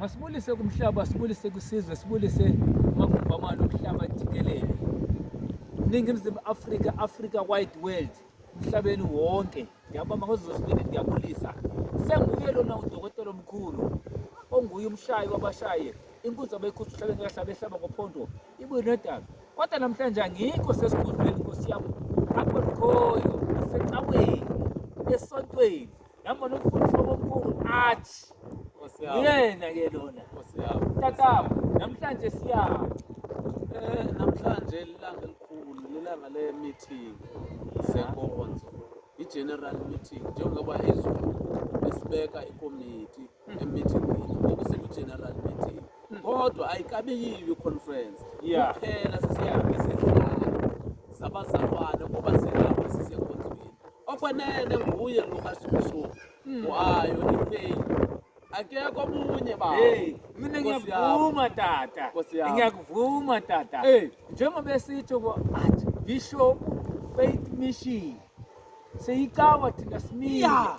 Masibulise kumhlaba, sibulise kusizwe, sibulise amagumbamane omhlaba jikelele. Ningizimu Afrika, Africa wide world, emhlabeni wonke. Ngiyabamba ngozozibili ngiyabulisa. Senguye lona udokotela omkhulu onguye umshayi wabashaye inkunzi abayikhuthi uhlabeni kahlaba ehlaba ngophondo ibuye nedaba kodwa namhlanje angikho sesigodlweni nkosi yami akho likhoyo esecaweni esontweni Ngambona umfundisi omkhulu athi uyena ke lona. Tatabo namhlanje siyama. Eh namhlanje ilanga elikhulu lelanga le meeting senkonzo. I-general meeting njengoba izulu esibeka ikomiti emithini okuseku-general meeting kodwa ayikabe yiyo i-conference Yeah. kuphela sesiyaesehlala zabazalwane kuba silapho sisenkonzweni okwenene nguye lo kashushuka wayo ifeyi akekho omunye baba Hey, mina Nkosi ngiyakuvuma tata. Nkosi yami. Ngiyakuvuma tata. Hey. Njengoba esitsho ko Archbishop Faith Mission. Seyicawa thina simile. Yeah.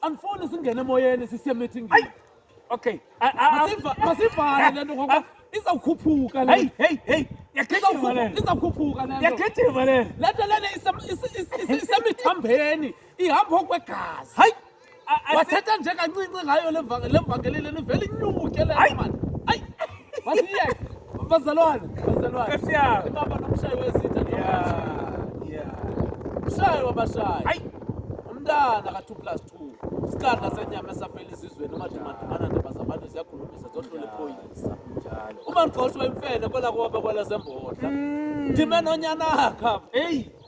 Angifuni singene emoyeni sisiye meeting. Hayi. Okay. Masivale lento ngoba izawukhuphuka le. Hey hey hey. Yagijima le. Izawukhuphuka lento. Yagijima le. Lento lena isemithambeni ihamba okwegazi. Hayi. Wathetha nje kancinci ngayo le vangeli leni vele inyuke le manje. Masiyeke. Bazalwane, bazalwane. Nkosi yami. Baba nomshayi wezinja nje. Yeah. Yeah. Mshayi wabashayi. Hayi. Umntana ka 2 plus 2. Isikanda senyama esafela izizweni umadumadumana ndaba zabantu ziyakhulumisa zohlula iphoyisa. Njalo. Uma ngigxoshwa imfene kwela kuba kwela zembodla. Ndime nonyanakha. Hey.